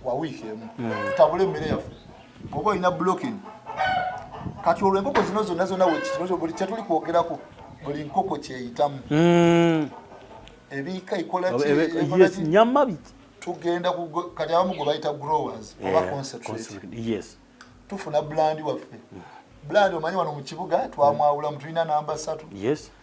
wa wiiki emu hmm. tutabule emmere yaffe oba olina blocking kati olwo enkoko zino zonna zonna wekibuli kyetuli kwogerako buli nkoko kyeyitamu hmm. ebiika ekolaenyama biki tugenda kati abamu gwe bayita growers eh, oba concentrate tufuna blandi waffe blandi omanyi wano mu kibuga twamwawulamu tulina namba satu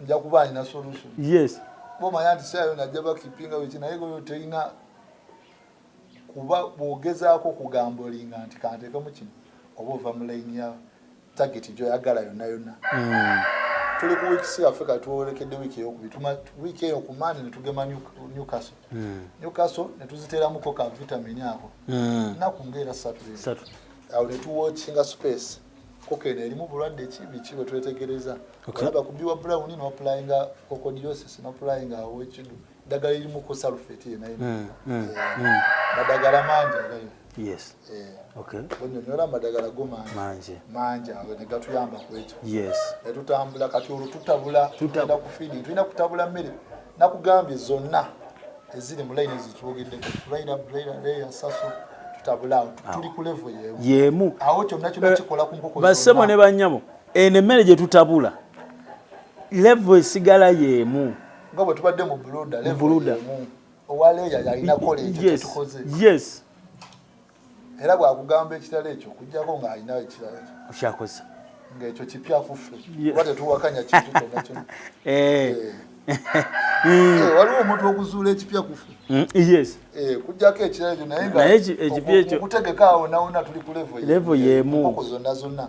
nja kuba alina solution yes bomanya nti sayo najja bakipinga weki naye goyo terina kuba bwogezaako okugamba olinga nti kantekemu kino oba ova mu layini ya tageti gyoyagala yonna yonna hmm. tuli ku wiikisi yaffe kati twolekedde wiiki eyokubiri wiiki eyo ku mande netugema newcastle hmm. newcastle netuziteeramuko ka vitamini ako hmm. naku ngaera satu awo netuwokinga space koko eno erimu bulwadde ki biki bwe twetegereza olaba ku biwa brown no applyinga cocodiosis no applyinga awekidu ddagala erimu ku sulfate yena yena mm, mm, eh, mm. madagala mangi agayo yes eh, okay onyonyola madagala go mangi mangi mangi ago ne gatuyamba ku ekyo yes etutambula kati olututabula tutenda kufidi tulina kutabula mmere nakugambye zonna eziri mu layini zitwogeddeko raira raira raira saso yemu basebo ne banyabo eno emmere gye tutabula levo esigala yemu nga bwe tubadde mu buluda owa leeya yalina kola ekyo kyetukoze yes era bwakugamba ekitala ekyo okujjako nga alina ekirala okyakoza ngaekyo kipya kuffe oba tetuwakanya kintu kyona kyona eh. eh. eh, waliwo omuntu okuzuula ekipya kufe mm, yes kujjako ekirala ekyo naye nga okutegeka awo nawona tuli ku levo yemu zonna zonna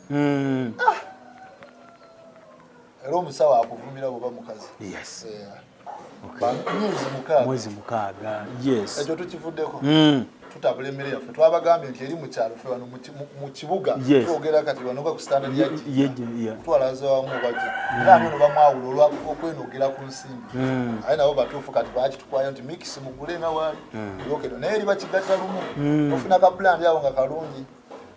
hmm. ah. era omusawo akuvumira oba mukazi yes yeah. mwezi mukaaga ekyo tukivuddeko hmm. tutabula emmere yaffe twabagambye nti eri mukyalo fe wano mu kibuga twogera kati wanoga ku standard yatwalaza wamu baki hmm. era anono bamwawula olwokwenogera ku nsimbi hmm. aye nabo batuufu kati bakitukwayo nti mikisi mugule nga waali yokedo naye eri bakigatta lumu ofuna ka pulandi awo nga kalungi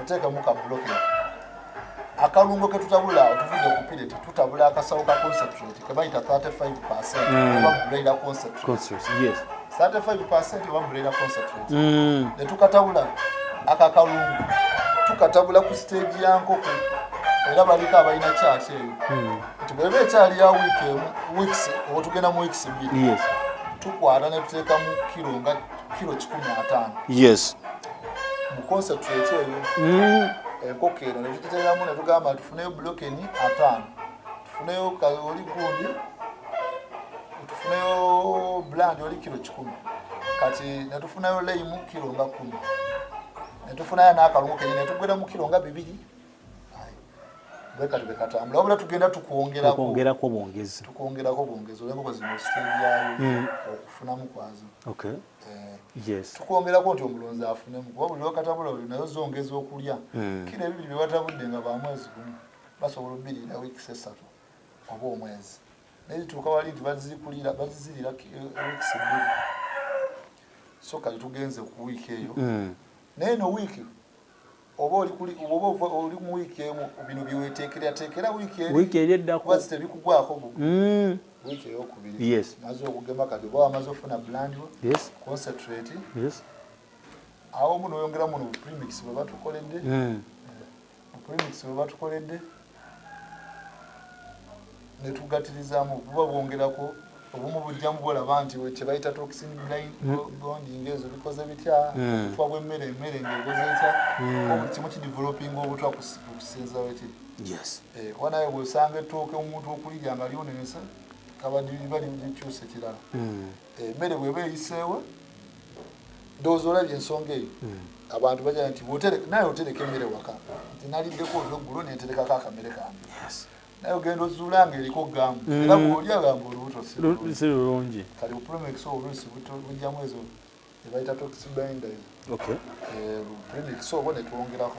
oteekamu ka bloke akalungo ke tutabula otuvudde ku pireti tutabula akasawo ka concentrate ke bayita 35 percent mm. oba braila concentrate 35 percent oba braila concentrate mm. ne tukatabula ako akalungo tukatabula ku siteegi ya nkoko era baliko abalina kyaki eyo hmm. nti bweba ekyali ya wiiki emu wiiki oba tugenda mu wiiki bbiri tukwata ne tuteekamu kiro nga kilo kikumi na tano yes mu concentrate eyo mm. enkoko eno ne tugiteeramu ne tugamba tufuneyo bulokeni ataano tufuneyo oli gundi tufuneyo bulandi oli kilo kikumi kati ne tufunayo leyimu kilo nga kumi ne tufunayo n'akalungu kenyi ne tugweramu kilo nga bibiri bwekati bwekatambula wabula tugenda tukwongerakwongerako bwongezi tukwongerako bwongezi olwenkoko zino sitebyayo hmm. okufunamu kwazo eh, tukwongerako nti omulonzi afunemu kuba buli wakatabula oli nayo zongeza okulya hmm. kira ebibiri byebatabudde nga bamwezi gumu basobola obirira wiikisi esatu oba omwezi naye zituuka wali nti bazikulira bazizirira eh, wiikisi bbiri so kati tugenze ku wiiki eyo hmm. naye no wiiki oba oli kuli oba oli mu wiki emu bino byeweteekera teekera wiki eri wiki eri eddako kuba tebikugwako bu mm. wiki eyokubiri yes maze okugema kati oba wamaze ofuna bland yes concentrate yes awo muno oyongera muno premix bwe batukoledde mm. premix bwe batukoledde netugatirizamu buba bwongerako obumu bujjamu bolaba nti kyebayita toxin blind hmm. bonding ezo bikoze bitya hmm. obutwa bwemmere emmere ngaegoze etya hmm. obuli kimu kidevelopinga obutwa kusinza wekiri eh, oba naye bwosanga ettooke omuntu okulirya nga lyonenesa kabadibali likyusa ekirala emmere eh, bweba eyiseewa ndowooza olabye ensonga eyo hmm. abantu baja nti naye otereka emmere waka nti naliddeko olweggulo neterekako akamere kange naye ogenda ozuula nga eriko gamu hmm. era bwoli agamba olubuto si lulungi kati opromex obulusi bujjamu ezo ebayita toxbinder eh, premix obo netwongerako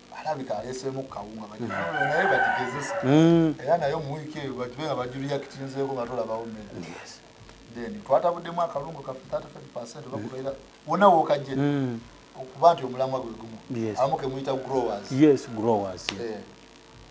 alabika aleeseemu kawunga bagifulule naye bagigezesa mm. era naye mu wiiki eyo bagibe nga bagiriyakitinzeeko nga tolabawo mmere then twatabuddemu akalungu kaffe 35 percent bakubeera wona wookajje mm. okuba nti omulamwa gwe gumu abamu kemuyita growers yes growers yeah. yeah.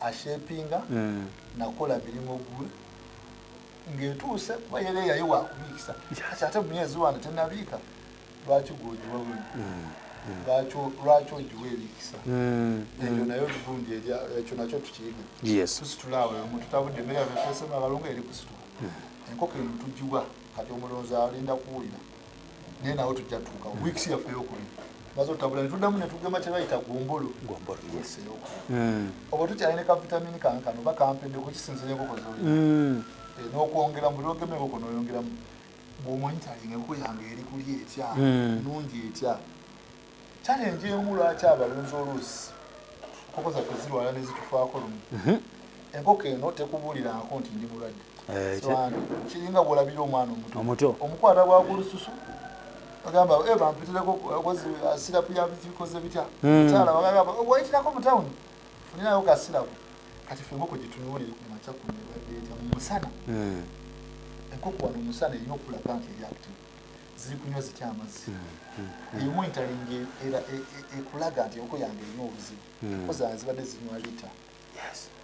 ashepinga mm. nakola mirimu gwe ngetuuse kuba yera eyayo wakubiikisa kati ate mumyezi wano tenabiika lwaki gwogiwa wino mm. lwaki ogiwa ebikisa eyo naye olugundi ekyo nakyo tukiyiga tusitula awo omu tutabudde emere yatesema abalungu eri kusitula enkoko emu tugiwa kati omulonzi alinda kuwulira naye nawo tujja tutuuka weeks yaffe eyokubiri maze otabula netuddamu netugema kyebayita gumbulu hmm. oba tukyali ne kavitamini kange kano oba kampedde kukisinzira enkoko zoli hmm. eh, nokwongera buli ogema enkoko noyongeramu bwomonitalinga enkoko yange eri kuli etya hmm. nungi etya challenge emu lwaki abalunzi oluusi enkoko zaffe zirwala nezitufaako lumu mhm. enkoko eno tekubuliraako nti ndi mulwadde eh, kiringa bwolabira omwana omuto omukwata bwakulususu agamba eh, bampitireko kozi uh, sirapu yabikoze bitya hmm. mukyala wagamba oh, wayitirako mu tawuni funirayo ka sirapu kati fe enkoko gyetunuulire ku makya ku nebaddeeta mu musana hmm. enkoko wano omusana erina okulaga nti eri active ziri kunywa zitya amazzi emu entalinga era e, e, ekulaga nti enkoko yange erina obuzibu hmm. koza zibadde zinywa lita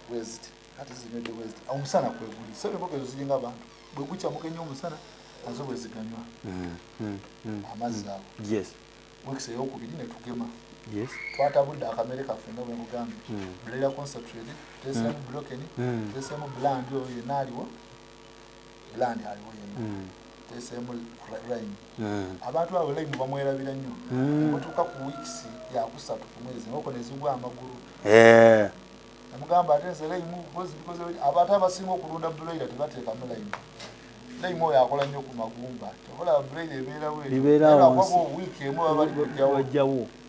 bweziti ate zinywedde bweziti omusana kweguli so enkoko ezo ziringa abantu bwegukyamuka ennyo omusana nazo bweziganywa hmm, hmm, amazzi ago wekisa eyokubiri netugema twatabudde akamere kaffe nga bwemugambye bulera concentrate tesemu blokeni tesemu blandi oyo yenaaliwo land aliwo yenna mm. teseemu rain mm. abantu abo laimu bamwerabira nnyo mm. mutuuka ku weeks yakusatu ku mwezi enkoko nezigwa amagulu eh. amugamba ate nze laimu abantu abasinga okulunda bulaira tebateekamu laimu laimu oyo akola nnyo ku magumba kyobola bulaira ebeerawo ebeerawo wiiki emu babali bajjawo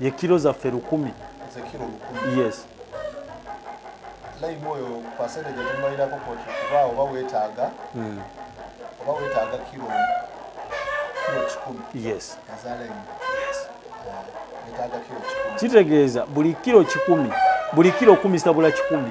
ye kiro zaffe lukumi yes hmm. yes kitegeeza buli kiro kikumi buli kiro okumisabula kikumi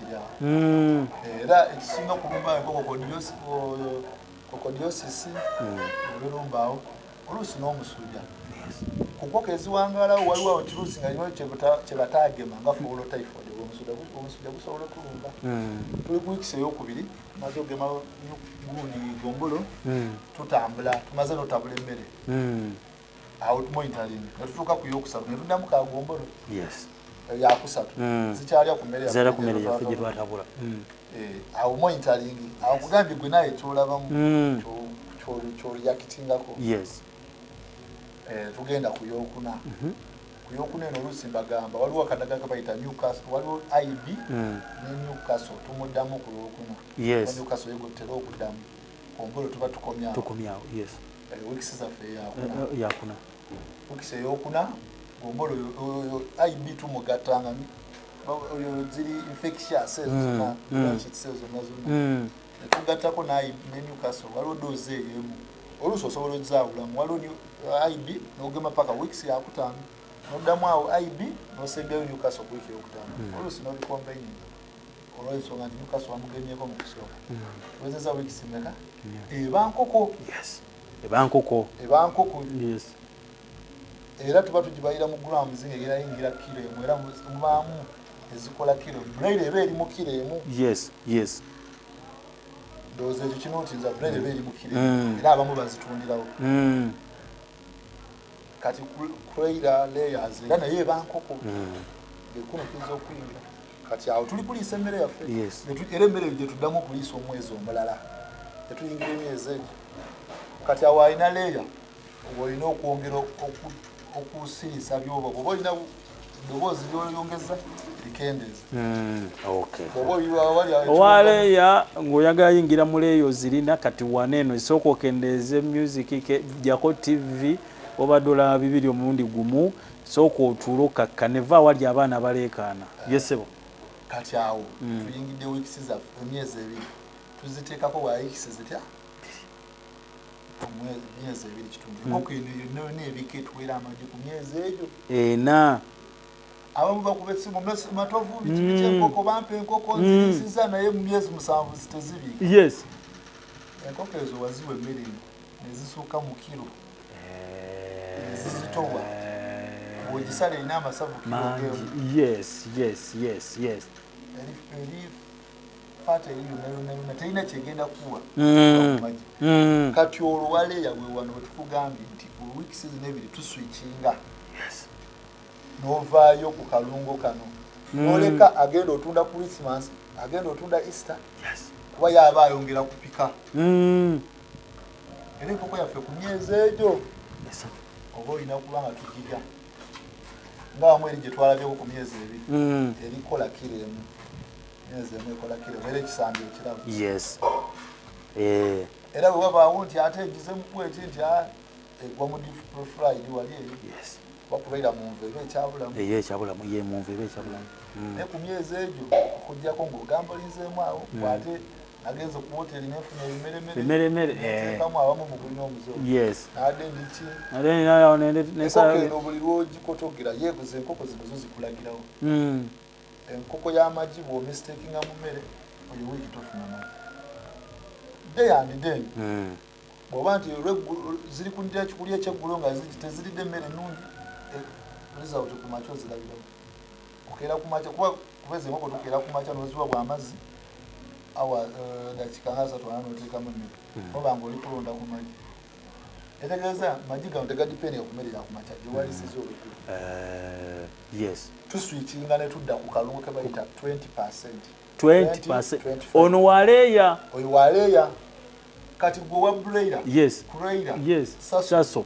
hmm. era ekisinga okulumba enkoko kokodiosisi olulumbaawo hmm. oluusi n'omusuja ku nkoko eziwangaalawo waliwo awo kiruusi nga lino kyebataagema nga fuulo typhoid omusuja gusobola okulumba hmm. tuli kuwikisa eyokubiri tumaze ogema gundi gombolo tutambula tumaze notabula emmere awo tumonitaling ne tutuuka ku yokusatu ne tuddamu kagombolo yakusatu hmm. zikyalya ku mmere yaffe gye twatabula hmm. eh, awo monitaling awo kugambye gwe naye kyolabamu hmm. kyoreyakitingako eh, tugenda ku yokuna mhm. ku yokuna eno oluusi mbagamba waliwo akadaga kabayita newcastle waliwo ib ne newcastle tumuddamu ku lwokuna newcastle yegotera okuddamu ombolo tuba tukomyawo wikisi zaffe yakuna wikisi eyokuna gombolo ib tumugatta nga ziri infectious ezo mm, zona mm. kitise zona zona mm. tugattako ne newcastle waliwo doozi eyo emu oluusi osobola ozaawulamu waliwo uh, ib nogema paka weeks yakutaano noddamu awo ib nosembeyo newcastle ku wiiki eyokutaano oluusi nobikombeyinga olwensonga nti mukasa wamugemyeko mu kusooka wezeza wiiki simeka ebankoko ebankoko ebankoko era tuba tugibayira mu grams era yingira kiro emu era mubaamu ezikola kiro braille eba eri mu kiro emu yes yes ndowooza ekyo kinootinza braille eba eri mu kiro mm. era abamu bazitundirawo mm. kati craira layers era naye ebankoko mm. bekunukiza okuyingira kati awo tuli kuliisa emmere yaffe era emmere eyo gyetuddamu okuliisa omwezi omulala etuyingira emyezi egyo kati awo alina leeya olina okwongera okusiisa byoba oba olina eddoboozi lyoyongeza likendeeza hmm, owaleeya ngaoyagala yingira mu leeyo zirina kati wana eno esooka okendeeze music jako tv obadde olaba bibiri omulundi gumu Sooka otuule okkakkane. Vva awali abaana abaleekaana. Ye ssebo? Kati awo hmm. tuyingidde wiikisi zaffe, emyezi ebiri tuziteekako wa wiikisi zitya? emyezi ebiri kitundu hmm. enkoko eno yonna yonna ebika etuweera amagi ku myezi egyo ena abamu bakuba essimu matovu bikibi hmm. kyenkoko bampa enkoko nziyisiza naye mu myezi musanvu zitezibiika enkoko ezo waziwa emmere nezisuuka mu kiro nzizitowa bwogisala erina amasavu eri fata eri yonayonayona terina kyegenda kuwa mm. mm. kati olwo waleya wewano wetukugambye nti weeks zino ebiri tuswikinga novaayo ku kalungo kano mm. noleka agenda otunda christmas agenda otunda easter kuba yaba ayongera kupika era enkoko yaffe ku myezi egyo esatu oba olina okuba nga tugirya nga wamu eri gye twalabyeko ku myezi ebiri hmm. erikola kiro emu myezi emu ekola kiro emu era ekisambi ekirabu yes eh. era bwe wabaawo nti ate egize mukweti nti ah, egwa mu difrofride wali eri bakubeera mu nva eba ekyabulamu eyo ekyabulamu ye mu nva eba ekyabulamu hmm. naye ku myezi egyo okujjako ngaogambulinzeemu awo hmm. ate agenze ku woteri nefuna ebimeremere eh. abamu mugulina omuzeeyo buli lwogikotogera yebuza enkoko zino zo zikulagirawo hmm. enkoko y'amagi bwomistekinga mu mmere oyo wiiki tofuna magi day and day hmm. bwoba nti ziri kundira kikuli ekyeggulo nga teziridde emmere ennungi eh, result ku makya ozirabirawo okeera ku makya kuba kubeza enkoko tukeera ku makya noziwa bwamazzi awa eh, dakika nga asatu ana notekamu emmere hmm. oba nga oli kulonda ku magi etegeeza magi gano tegadipeninga ku mmere yakumakya gyewalisiza hmm. olukulu eh, yes tuswikinga ne tudda ku kalungu ke bayita 20 percent 20 percent ono waleeya oyo waleeya kati gwe wa buleira yes kureira yes saso, saso.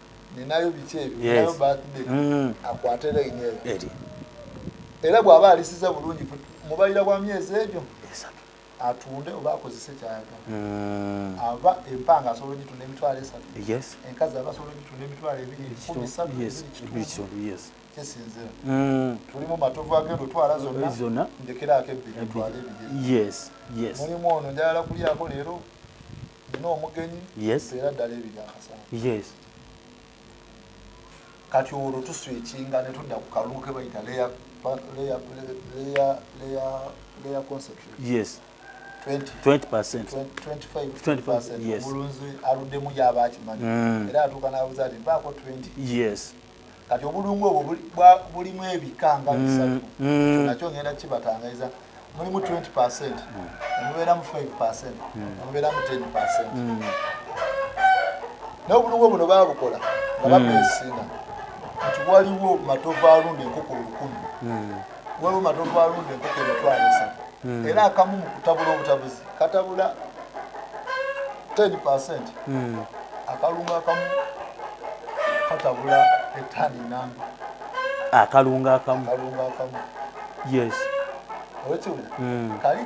ninayo biki ebyo ninayo birthday mm. akwate line eyo era bw'aba alisiza bulungi mubalira bwa myezi egyo atunde oba akozese kyayagala mm. aba empanga asobola ogitunda emitwalo esatu enkazi aba asobola ogitunda emitwalo ebiri kumi satu kisinzira mm. tulimu matovu agenda otwala zonna ndekeraako ebbiri etwala ebiri mulimu ono njagala kulyako leero nina omugenyi era ddala ebiri akasana kati olwo tuswikinga netudda ku kalungu kebayita leya omulunzi aluddemu yaba akimanyi mm. era atuuka nabuza ti mpaako 20 kati obulungu obwo bulimu ebika nga bisatu mm, mm. nakyo ngenda kibatangaiza mulimu 20 percent nemubeeramu 5 percent nemubeeramu 10 percent naye obulungu buno babukola nga babesinga nti waliwo matovu alunda enkoko olukumi waliwo matovu alunda enkoko emitwalo esatu hmm. era akamu mu kutabula obutabuzi katabula 10 percent hmm. akalunga akamu katabula etani namba akalunga akamu yes owekiwulira hmm. kali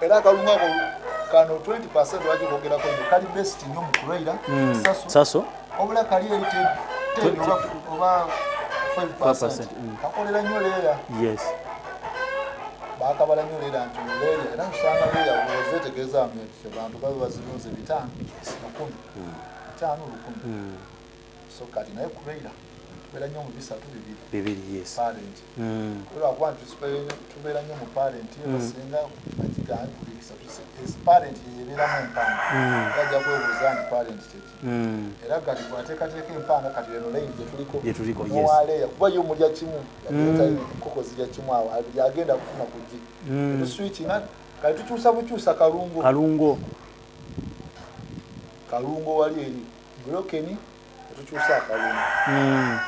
era akalunga kano 20 lwaki kogerako nyo kali best nyo mu kulwaira hmm. saso obula kali eri oba 5 hmm. kakolera nyo leera yes bakabala nyo leera nti leera era nsanga leera owoze tegeeza abantu babe bazirunze bitano lukumi hmm. bitano lukumi so kati naye kubeera tubeera nnyo mu bisatu bibiri bibiri yes parent mm. lwakuba nti tubeera nnyo mu parent mm. basinga bakigambi buli kisatu parent yeyebeeramu empanga mm. ajja kwebuuza nti parent kyeki mm. era kati bwateekateeka empanga kati eno laini gyetuliko muwaleya kuba yo mulya kimu mm. koko zirya kimu awo yagenda kufuna kugi tuswiki nga kati tukyusa bukyusa kalungo kalungo kalungo wali eri bulokeni otukyusa akalungi hmm.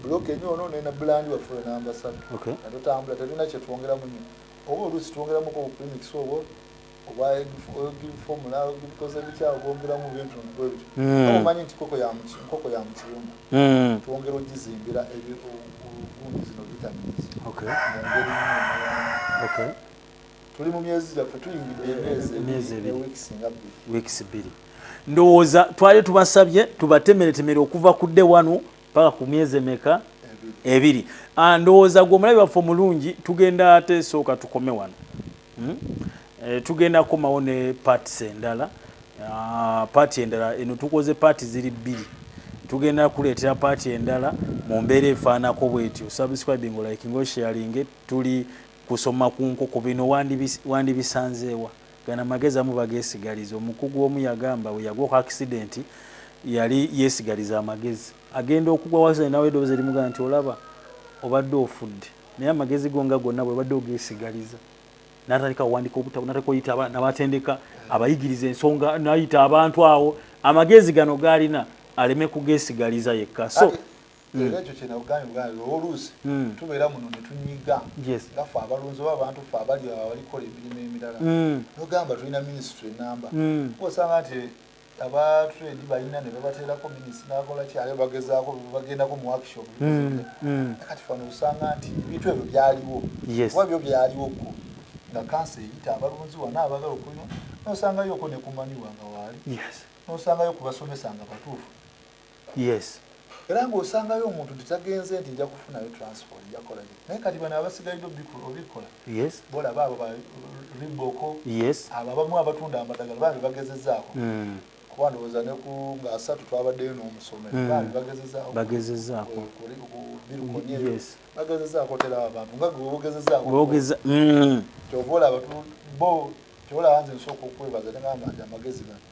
bulokeni ono nena bulandi waffe namba satu natutambula talina kyetwongeramu nyo oba oluusi twongeramuko obupimikisi obwo obaformula bikoze bitya obwongeramu bintu bwebityo hmm. omanyi nti nkoko ya mukiyumba hmm. twongera ogizimbira ebiundi zino vitamins mungeri tuli mu myezi gyaffe tuyingidde emyezi weeks bbiri ndowooza twali tubasabye tubatemeretemere okuva ku dde wano paka ku myezi emeka ebiri ah, ndowooza gwe omulabi waffe omulungi tugenda ate sooka tukome wano hmm? eh, tugenda kukomawo ne parts endala ah, paati endala eno tukoze paati ziri bbiri tugenda kuleetera paati endala mu mbeera efaanako bwetyo subscribing like ngosharinge tuli Kusoma ku nkoko bino wandibisanzeewa? Gano amagezi abamu bageesigaliza. Omukugu omu yagamba bwe yagwa ku akisidenti yali yeesigaliza amagezi. Agenda okugwa wansi naye n'awulira eddoboozi erimugamba nti, olaba obadde ofudde. Naye amagezi go nga gonna bw'obadde ogeesigaliza n'atandika awandiika obutabo n'atandika oyita n'abatendeka abayigiriza ensonga n'ayita abantu awo amagezi gano g'alina aleme kugeesigaliza yekka. So. hmm. era ekyo kyenagambye bwa lero oluusi hmm. tubeera muno ne tunyiga nga fe abalunzi oba abantu fe abali abalikola emirimu emirala hmm. nogamba tulina minisitry enamba osanga nti aba trade balina ne babateerako minisitry nakola kyale bagezaako bagendako mu workshop kati fano osanga nti ebintu ebyo byaliwo oba byo byaliwo ko nga kansa eyita abalunzi wana abagala okulima nosangayo oko nekumaniwa nga waali nosangayo kubasomesa nga batuufu yes era ng'osangayo omuntu nti tagenze nti nja kufunayo transport njakola naye kati bano abasigalidde obikola bolaba abo bariboko abo abamu abatunda amadagala bambi bagezezaako hmm. kuba ndowooza neku nga asatu twabaddeyo n'omusomero hmm. bambi bagezezaako bagezezaako tera abantu nga gweogezezaako hmm. kyova olaba bo kyolaba nze nsooka okwebaza negamba nti amagezi gano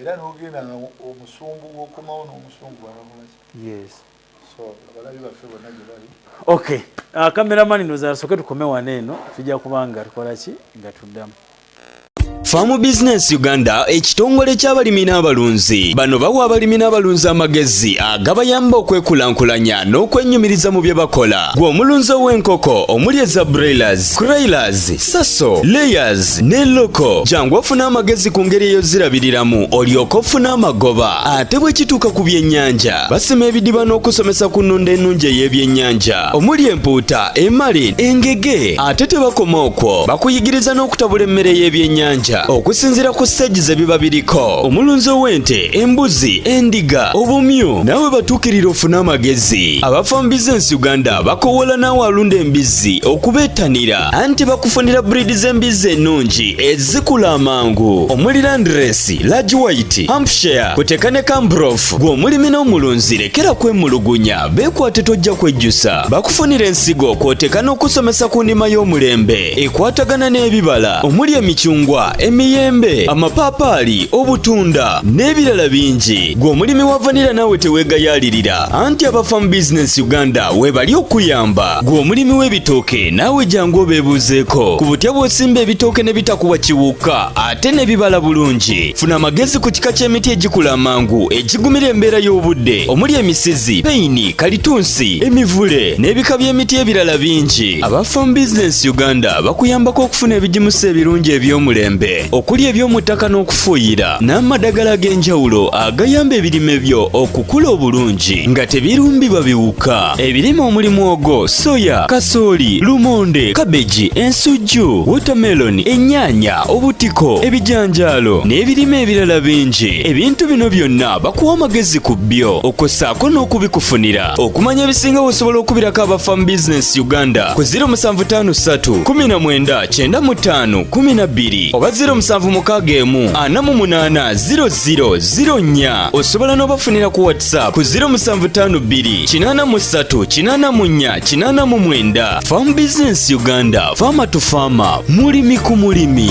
era nogenda nga omusumbu wokomawo nomusumbu walakolaki yes so abalabi baffe bonna gye bali ok uh, kameramani nozasoke tukome wano eno tujja kubanga tukola ki nga tuddamu Farm Business Uganda ekitongole ky'abalimi n'abalunzi bano bawa abalimi n'abalunzi amagezi agabayamba okwekulankulanya n'okwenyumiriza mu bye bakola gwe omulunzi ow'enkoko omuli eza broilers, croilers, saso layers ne loko jangu ofuna amagezi ku ngeri eyozirabiriramu olyoka ofuna amagoba ate bwe kituuka ku byennyanja basima ebidiba n'okusomesa ku nnunda ennungi ey'ebyennyanja omuli empuuta emali engege ate tebakoma okwo bakuyigiriza n'okutabula emmere y'ebyennyanja okusinziira ku siteegi ze biba biriko omulunzi ow'ente embuzi endiga obumyu nawe batuukirira ofune amagezi abafa mu bizinensi uganda bakowola naawe alunda embizzi okubeetanira anti bakufunira buriidi z'embizzi ennungi ezikula amangu omuli landiresi lagi wayiti hampshire kuteka ne kambrof gw'omulimi n'omulunzi lekera kwemulugunya beekwate tojja kwejjusa bakufunira ensigo kwoteka n'okusomesa ku ndima y'omulembe ekwatagana n'ebibala omuli emicungwa emiyembe amapaapaali obutunda n'ebirala bingi gw'omulimi wa vanira naawe teweegayaalirira anti abafamu bizinesi uganda webali okuyamba Gwe omulimi w'ebitooke naawe jangu obeebuuzeeko ku butya bw'osimba ebitooke ne bitakuwa kiwuka ate ne bibala bulungi. Funa amagezi ku kika ky'emiti egikula amangu egigumira embeera y'obudde omuli emisizi, peyini, kalitunsi, emivule n'ebika by'emiti ebirala bingi. Aba Farm Business Uganda bakuyambako okufuna ebigimusa ebirungi eby'omulembe. okuli ebyomuttaka n'okufuuyira n'amadagala ag'enjawulo agayamba ebirime byo okukula obulungi nga tebirumbibwa biwuka ebirime omuli mwogo soya kasooli lumonde kabeji ensujju wotameloni ennyaanya obutiko ebijanjaalo n'ebirime ebirala bingi ebintu bino byonna bakuwa amagezi ku byo okussaako n'okubikufunira okumanya ebisinga osobola okubirako abafa mu business uganda ku 0753199512 oba 0761480004 osobola n'obafunira ku whatsapp ku 0752838489 farm business uganda faama to faama mulimi ku mulimi